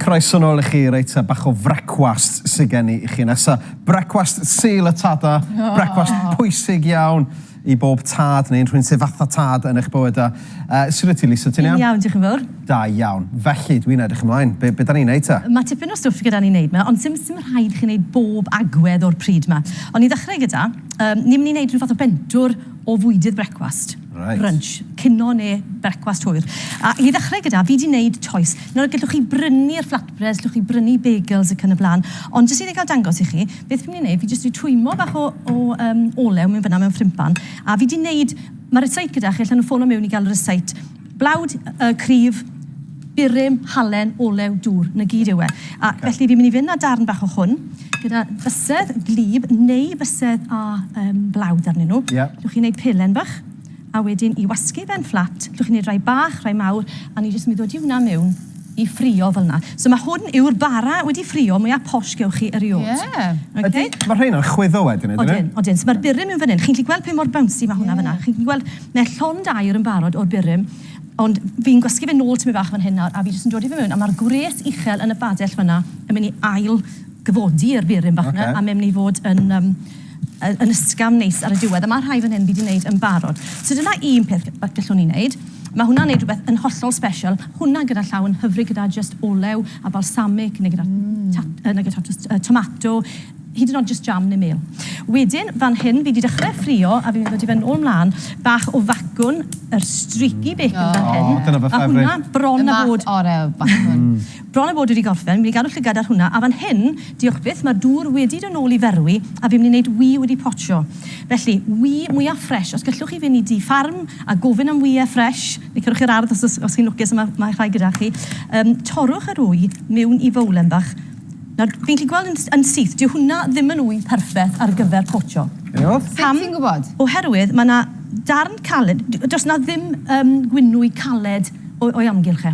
Croeso nôl i chi, reit, a bach o frecwast sy'n gen i i chi nesa. Brecwast Sul y Tada, brecwast pwysig iawn i bob tad neu'n rhywun sydd fatha tad yn eich bywydau. Shwt wyt ti Lisa, ti'n iawn? Yn iawn, diolch yn fawr. Da iawn. Felly, dwi'n edrych ymlaen. Be, be da ni'n neud ta? Mae tipyn o stwff gyda ni wneud ma, ond sim, sim rhaid i chi wneud bob agwedd o'r pryd ma. Ond i ddechrau gyda, um, ni'n mynd i wneud rhyw fath o bentwr o fwydydd brecwast. Right. Brunch, cino neu brecwast hwyr. A i ddechrau gyda, fi di wneud toes. Nawr, gallwch chi brynu'r flatbreads, gallwch chi brynu bagels ac yn y blaen, ond jyst i ni gael dangos i chi, beth fi'n mynd i wneud, fi jyst wedi twymo bach o, o um, olew mewn fyna mewn ffrimpan, a fi di wneud Mae rysáit gyda chi, allan nhw ffono miwn i gael rysáit. Blawd, yy cryf, burum, halen, olew, dŵr, 'na gyd yw e. A felly fi'n mynd i fynd â darn bach o hwn, gyda bysedd gwlyb neu fysedd â yym blawd arnyn nhw. Ie. Allwch chi wneud pelen bach, a wedyn i wasgu fe'n fflat, allwch chi wneud rhai bach, rhai mawr, a ni jyst yn mynd i ddodi hwnna miwn. i ffrio fel 'na. So ma' hwn yw'r bara wedi ffrio mwya posh gewch chi eriôd. Ie. Ydi? Ma' rheina'n chwyddo wedyn ydyn? Odyn, odyn. So ma'r burum mewn fan 'yn. Chi'n gallu gweld pa mor bouncy ma' hwnna fan 'na? Chi'n gallu gweld ma' e llond aer yn barod o'r burum ond fi'n gwasgu fe nôl tipyn bach fan hyn nawr a fi jyst yn dodi fe mewn a ma'r gwres uchel yn y badell fan 'na yn myn' i ail gyfodi yr burum bach 'na a ma' e myn' i fod yn yym yn ysgafn neis ar y diwedd, a mae rhai fan hyn fi wedi wneud yn barod. So dyna un peth gallwn ni wneud. Mae hwnna'n gwneud rhywbeth yn hollol special. Hwnna gyda llaw yn hyfryd gyda just olew a balsamic neu gyda mm. ta, uh, neu gyda uh, tomato, hyd yn oed just jam neu mel. Wedyn, fan hyn, fi wedi dechrau ffrio a fi'n dod i fe nôl mlaen, bach o facwn, yr streaky bacon oh. fan hyn. Oh, dyna fy ffefryd. A hwnna bron a bod... Y math o'r bacwn. Mm. Bron a bod wedi gorffen, fi'n gadw llygad ar hwnna, a fan hyn, diolch byth, mae'r dŵr wedi dod nôl i ferwi a fi'n mynd i wneud wŷ wedi potsio. Felly, wŷ mwya ffresh, os gellwch chi fynd i dŷ ffarm a gofyn am wyau ffresh, neu cerwch i'r ardd os os chi'n lwcus a mae mae rhai gyda chi, yym, torrwch yr wŷ miwn i fowlen bach. Nawr, fi'n gallu gweld yn yn syth, dyw hwnna ddim yn wŷ perffeth ar gyfer potsio. O! Sut ti'n gwybod? Oherwydd mae 'na darn caled, does 'na ddim yym gwinwy caled o o'i amgylch e.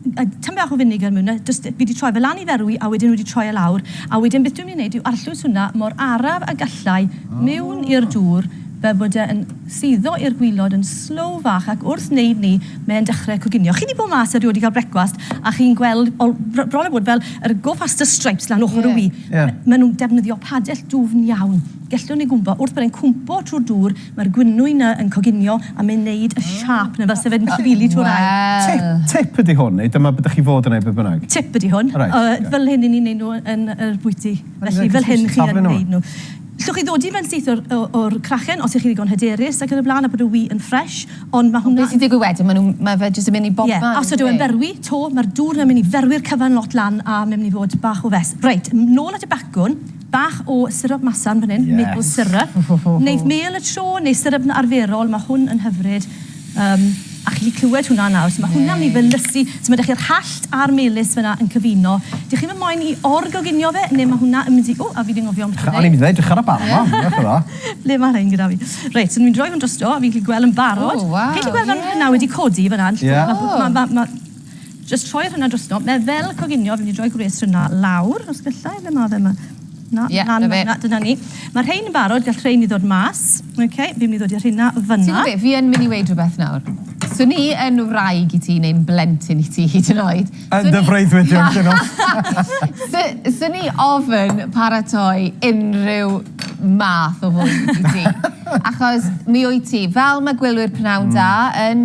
Tamaid bach o finegr mewn 'na, jyst, fi 'di troi fe lan i ferwi a wedyn wedi troi e lawr, a wedyn beth dwi'n mynd i wneud yw arllwys hwnna mor araf a gallai mewn i'r dŵr fel bod e yn suddo i'r gwilod yn slow fach ac wrth wneud 'ny mae e'n dechrau coginio. Chi 'di bod mas erioed i gael brecwast a chi'n gweld o, br- bron a bod fel yr go faster stripes lan ochr y wy. Maen nhw'n defnyddio padell dwfn iawn. Gellwn ni gwmpo wrth bod e'n cwmpo trwy'r dŵr, Mae'r gwinwy 'na yn coginio a mae'n neud y siâp 'na fel 'se fe'n llifili trwy'r aer. Wel! Tip ydi hwn, neu dyma be' 'dych chi fod yn neud beth bynnag? Tip ydi hwn. O reit, oce. Fel hyn 'yn ni'n neud nhw yn yr bwyty. Felly fel hyn chi yn neud nhw. Llwch chi ddodi fe'n syth o'r o- o'r crachen os 'ych chi ddigon hyderus ac yn y bla'n a bod y wy yn ffresh, ond ma' hwnna... Be' sy'n digwydd wedyn? Ma' nhw'n, ma' fe jyst yn mynd i bobman on'd yw e? Ie, os ydyw e'n berwi 'to, ma'r dŵr 'na myn' i ferwi'r cyfan lot lan a ma' myn' i fod bach o fess. Reit, nôl at y bacwn. Bach o syrup masarn fan hyn, maple syrup. Wneith mêl y tro neu syrup arferol, mae hwn yn hyfryd. Yym, a chi 'llu clywed hwnna nawr. So mae hwnna'n mynd i felysu. So mae 'da chi'r hallt a'r melys fan'na yn cyfuno. Dych chi'm yn moyn i or-goginio fe, neu mae hwnna yn mynd i... Ww, a fi 'di anghofio ambell i beth. O'n i'n mynd i ddeud, edrycha ar y bar 'ma, edrych ar dda. Ble mae rhein gyda fi? Reit, so dwi'n rhoi hwn drosto, a fi'n gallu gweld yn barod. O, waw, ie. Chi 'llu gweld fel ma' hwnna wedi codi fan'na? Ie. Mae, mae, mae, mae, mae... Jyst rhoi'r hwnna drosto. Mae fel coginio, fi'n mynd i roi gwres hwnna lawr, os gallai, ble mae fe yma? Na, yeah, lan yna, dyna ni. Mae rhain yn barod, gall rhain i ddod mas. Okay, fi'n mynd i ddod i'r hynna fyna. Ti'n gwybod fi yn mynd i weid rhywbeth nawr. Swn i yn wraig i ti neu'n blentyn i ti hyd yn oed. Yn dy freuddwyd i'n dyn nhw. Swn i ofyn paratoi unrhyw math o fwyd i ti. Achos mi wyt ti, fel mae gwylwyr pnawn da yn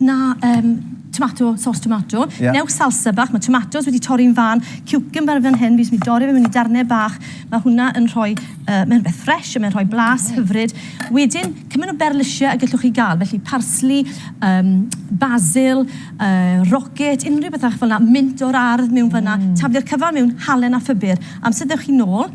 Na, um, tomato, sauce tomato. Yeah. Neu salsa bach, mae tomatoes wedi torri'n fan, cucumber fan hyn, fi'n mynd dorri fe mewn i darnau bach. Mae hwnna yn rhoi, uh, mae'n beth ffres, mae'n rhoi blas mm. hyfryd. Wedyn, cymaint o berlysiau y gallwch chi gael, felly parsli, um, basil, uh, rocket, unrhyw bethach fel yna, mynd o'r ardd mewn mm. fyna, taflu'r cyfan mewn halen a ffibr. Amser ddewch chi nôl,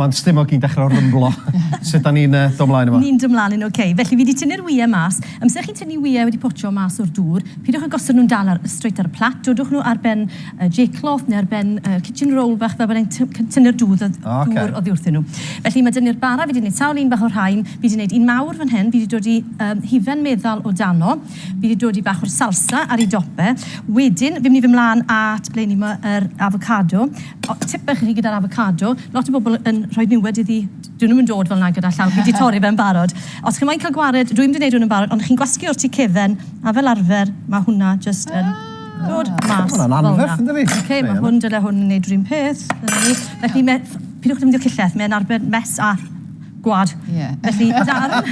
Mae'n stumog i'n dechrau rymblo. Sut da ni'n yy do mlaen yma? Ni'n do mlaen yn ok. Felly fi di tynnu'r wyau mas. Amser chi'n tynnu wyau wedi potsio mas o'r dŵr, pidwch a gosod nhw'n dal ar yy straight ar y plat, dodwch nhw ar ben yy J cloth neu ar ben yy kitchen roll fach fel bod e'n ty- cyn tynnu'r dŵr odd- O oce. dŵr oddi wrthyn nhw. Felly ma' dyni'r bara fi di neud sawl un bach o'r rhain, fi di neud un mawr fan hyn, fi di dod i yym hufen meddal o dano, fi di dod i bach o'r salsa ar ei dop e, wedyn fi'n mynd i fyn mlan at ble o'n i ma' yr afocado, Tip bach i chi gyda'r afocado, lot o bobl yn rhoi niwed iddi, 'dyn nhw'm yn dod fel 'na gyda llaw, chi 'di torri fe'n barod. Os chi moyn cael gwared, dwi'm 'di neud hwn yn barod, ond chi'n gwasgu o'r tu cefen, a fel arfer ma' hwnna jyst yn dod mas fel 'na. Ma' hwnna'n anferth yndydi? Oce, ma' hwn, dyle hwn neud 'r un peth. Dyna ni. Felly me- pidwch defnyddio cillell, mae'n arbed mess a Gwlad. Ie. Felly darn...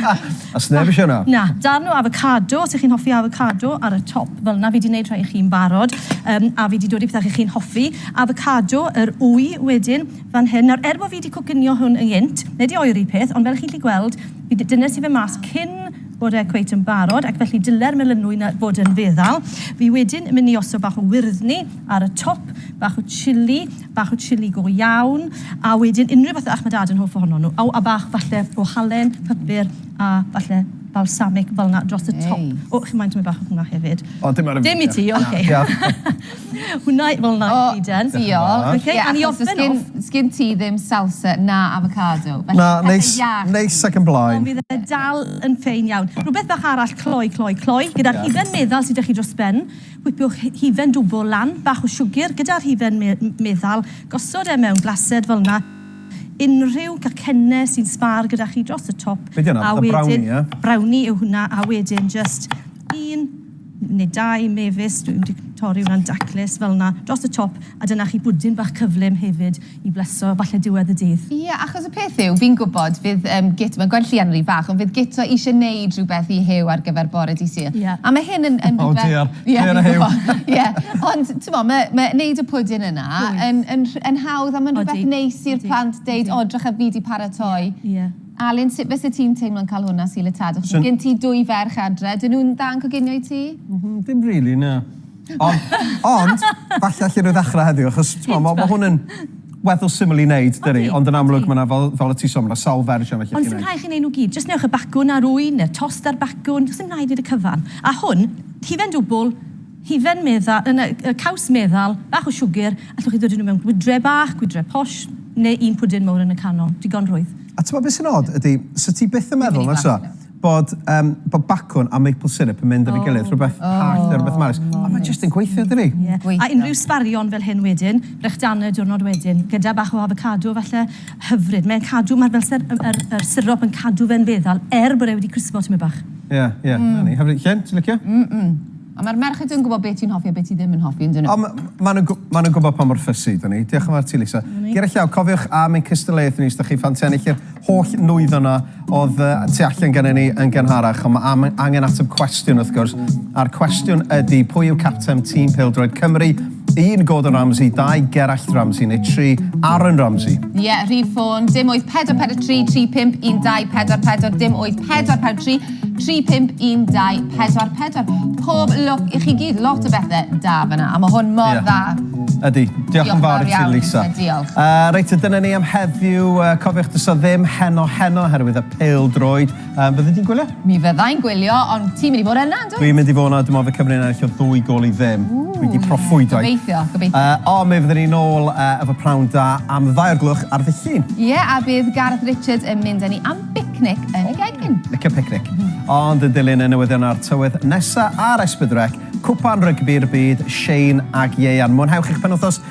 A sneb isio hwnna. Na, darn o afocado, os ych chi'n hoffi afocado, ar y top fel yna. Fi di wneud rhai i chi'n barod, um, a fi di dod i pethau chi'n hoffi. Afocado, yr wy wedyn, fan hyn. Nawr, er bod fi di coginio hwn yn gynt, neu di oeri peth, ond fel chi'n lli gweld, fi di dynnes i fe mas cyn bod e cweit yn barod, ac felly dyle'r melynwy na fod yn feddal. Fi wedyn yn mynd i osod bach o wyrddni ar y top, bach o chili, bach o chili go iawn, a wedyn unrhyw fath o iach mae Dad yn hoff ohonon nhw, a bach falle o halen, pypyr a falle balsamic fel 'na dros y top. O, chi'n moyn tamaid bach o hwnna hefyd? O, dim ar y funud, diolch. Dim i ti, ocê. Hwnna i- fel 'na i gyd yn. O, diolch. Ocê, a ni orffen off... Ie, achos does gen ti ddim salsa na afocado, felly pethe iach... Na, neis, neis ac yn blaen. Ond bydd e dal yn ffein iawn. Rhywbeth bach arall cloi, cloi, cloi, gyda'r hufen meddal sy 'da chi dros ben, Whipwch hufen dwfl lan, bach o siwgr gyda'r hufen meddal, gosod e mewn glased fel 'na, unrhyw gacenne sy'n sbâr gyda chi dros y top, a wedyn, brownie yw hwnna, a wedyn jyst un neu dau mefus, dwi'n mynd i torri hwnna'n daclus, fel 'na, dros y top, a dyna chi bwdin bach cyflym hefyd. I bleso, falle diwedd y dydd. Ie, achos y peth yw, fi'n gwybod, fydd yym Git, mae'n gweld llian rhy fach, ond fydd Gito isie neud rhywbeth i Huw ar gyfer bore Dydd Sul. Ie. A mae hyn yn yn rhywbeth... O diar, clên a Huw! Ie, ond t'mo', ma' ma' neud y pwdin yna... Oes. ...yn yn rh- yn hawdd a ma'n rhywbeth... Odi. ...neis i'r plant deud, o 'drycha fi 'di paratoi. Ie, ie. Alun, sut fyse ti'n teimlo'n ca'l hwn ar Sul y Tadau? Achos ma' gen ti dwy ferch adre, 'dyn nhw'n dda yn coginio i ti? M-hm, ddim rili, na. Ond, ond, falle allwn nhw ddechrau heddiw, achos, timod, mae hwn yn weddol syml i wneud, dydy, ond yn amlwg mae yna, fel, fel y ti'n sôn, mae yna sawl fersiwn allwch chi wneud. Ond sy'n rhaid chi wneud nhw gyd, jyst newch y bacwn a'r ŵyn, neu'r tost a'r bacwn, does dim rhaid wneud y cyfan. A hwn, hufen dwbl, hufen meddal, yn y, y caws meddal, bach o siwgr, allwch chi ddod nhw mewn gwydre bach, gwydre posh, neu un pwdin mowr yn y canol, digon rwydd. A ti'n gwybod beth sy'n od, ydy, 'set ti byth yn meddwl, nag 'set? bod yym bod bacwn a maple syrup yn mynd efo'i gilydd, rhywbeth hallt a rhywbeth maris, a mae jyst yn gweithio dydi? Ie, a unrhyw sbarion fel hyn wedyn, brechdanau y diwrnod wedyn, gyda bach o afocado falle, hyfryd. Mae'n cadw, mae'r fel syr- yr yr yr syrup yn cadw fe'n feddal er bod e wedi crispo tipyn bach. Ie, ie, 'na ni. Hyfryd. Jen, ti'n licio? Mm mm. Ond mae'r merched yn gwybod be ti'n hoffi a be ti ddim yn hoffi, yn dyn nhw? O, maen nhw'n gw- maen nhw'n gwybod pa mor fussy ydyn ni. Diolch yn fawr ti, Lisa. Ger y llaw, cofiwch am ein cystadleuaeth ni os da chi'n ffan tennill yr holl nwyddau yna oedd uh, tu allan gen ni yn gynharach. Ond mae am, angen ateb cwestiwn, wrth gwrs. A'r cwestiwn ydy, pwy yw capten tîm pêl-droed Cymru Un Gordon Ramsay, dau Gerallt Ramsay neu tri Aaron Ramsay? Ie, rhif ffôn, dim 8443 35124 dim 8443 35124. Pob lwc i chi gyd, lot o bethe da fyna, a mae hwn mor Ie. dda. Ydy, diolch Diolch yn fawr fawr i ti iawn, Lisa. Lisa, diolch. Yy reit, a dyna ni am heddiw. Yy, cofiwch, does 'na ddim heno heno oherwydd y pêl-droed. Yy, fyddi di'n gwylio? Mi fydda i'n gwylio, ond ti'n mynd i fod yna, yndwyt? Dwi'n mynd i fod yna, dwi'n meddwl fe Cymru yn ennill o ddwy gol i ddim. Dwi wedi proffwydo. Gobeithio, gobeithio. Yy, o, mi fydden ni'n ôl uh, efo prawn da am ddau o'r glwch ar ddydd Llun. Ie, yeah, a bydd Gareth Richards yn mynd â ni am bicnic yn y gegin. Licio picnic. Mm. Ond yn dilyn y newyddion a'r tywydd nesa ar Esbydwrec, cwpan rygbi'r byd, Shane ag Ieian. Mwynhewch eich penwthos